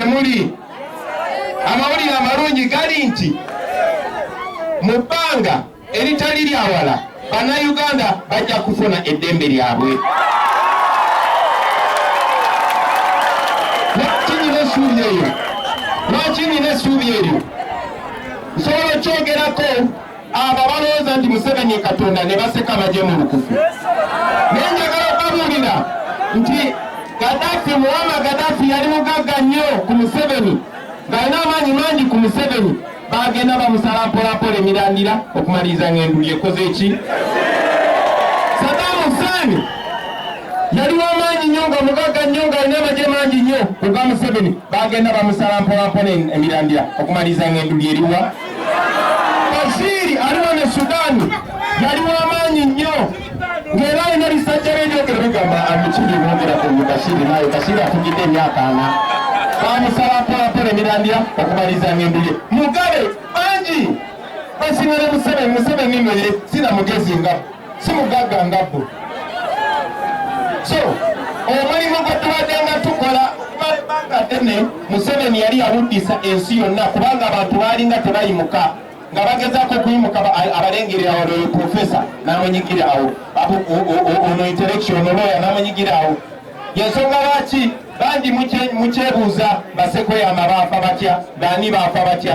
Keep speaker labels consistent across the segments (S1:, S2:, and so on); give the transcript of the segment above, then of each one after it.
S1: muli amawulire amalungi gali nti mu bbanga eritali lyawala bannayuganda bajja kufuna eddembe lyabwe lwaki nina essuubi eryo lwaki nina essuubi eryo nsobola okyogerako abo abalowooza nti museveni katonda ne baseka baje mu lukufu naye njagala okubabuulira nti gadafi muwama gadafi yali mugagga nnyo ku museveni ng'alina amaanyi mangi ku museveni bagenda bamusala mpolapola emirandira okumaliriza ng'enduli ekoze ki sadamu huseeni yali wamaanyi nnyo nga mugagga nnyo ng'alina amagye mangi nnyo ku ga museveni bagenda bamusala mpolapola emirandira okumaliriza ng'enduli eriwa Bashiri ali wano e Sudaani yali w'amaanyi nnyo ng'era alina bisajja be ebyogera bigamba abikiri boogera ku Bashiri naye Bashiri atugidde emyaka ana bamusaba mpolampola emirandira okumaliza ng'endu ye Mugabe bangi basinga ne Museveni Museveni nno ye sina mugezi nga si mugagga nga bo so omulimu gwe tubadde nga tukola okumala ebbanga ddene museveni yali yawuddisa ensi yonna kubanga abantu baalinga tebayimuka nga bagezaako okuyimuka abalengere awo oyo profesa n'amunyigira awo ono intellectual ono looya n'amunyigira awo yensonga lwaki bangi mukyebuuza basekoya amabaafa batya baani baafa batya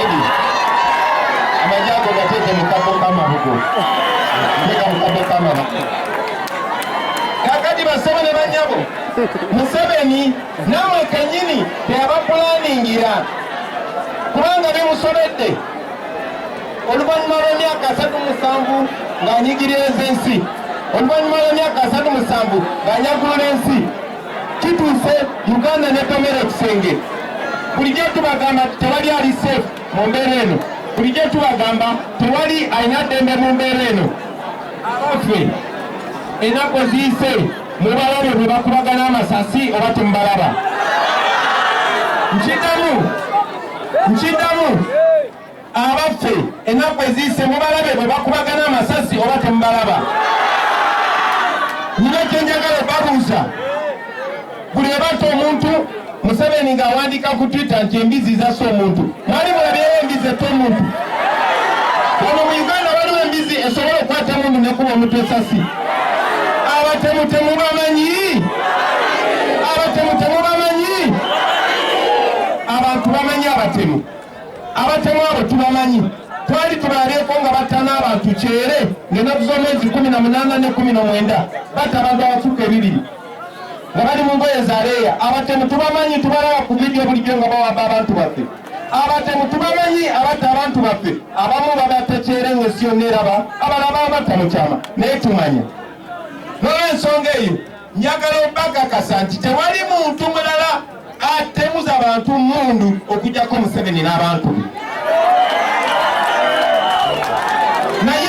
S1: Edi, amagi ago gateeke mu kabo k'amabugo. Nteeka mu kabo k'amabugo. Kakati basebo ne banyabo, Museveni namwe kenyini teyabapulaningira kubanga bimusobedde oluvannyuma lw'emyaka asatu musanvu ng'anyigiririza ensi oluvannyuma lw'emyaka asatu musanvu ng'anyagulula ensi kituuse uganda netomera ekisenge bulijjo tubagamba tewali ali safe mu mbeera eno bulijjo tubagamba tewali alina ddembe mu mbeera eno abaffe enaku eziyise mubalabo bwe bakubagana amasasi oba temubalaba nkidamu nkidamu abaffe ennaku eziyise mubalabe bwe bakubagana amasasi oba temubalaba nina kyenjagala obabuuza buli ebatta omuntu museveni ng'awandiika ku twitter nti embizi zasa omuntu mwali mulabyeyo embizi etta omuntu ono mu uganda waliwo embizi esobola okukwata mundu nekuba omuntu esasi abatemu temubamanyi abatemu temubamanyi abantu bamanyi abatemu abatemu abo tubamanyi twali tubaabyeko nga batta n'abantu kyere ng'ennaku z'omwezi kumi na munaana ne kumi nomwenda batta abantu abafuka ebibiri nga bali mu ngoye za leeya abatemu tubamanyi tubalaba ku vidiyo bulijjo nga bawamba abantu baffe abatemu tubamanyi abatta abantu baffe abamu babatta kyere ng'ensi yonna eraba abalaba abatta mu kyama naye tumanya nolwensonga eyo Njagala obakakasa nti tewali muntu mulala atemuza bantu mundu okujjako Museveni n'abantu be. Naye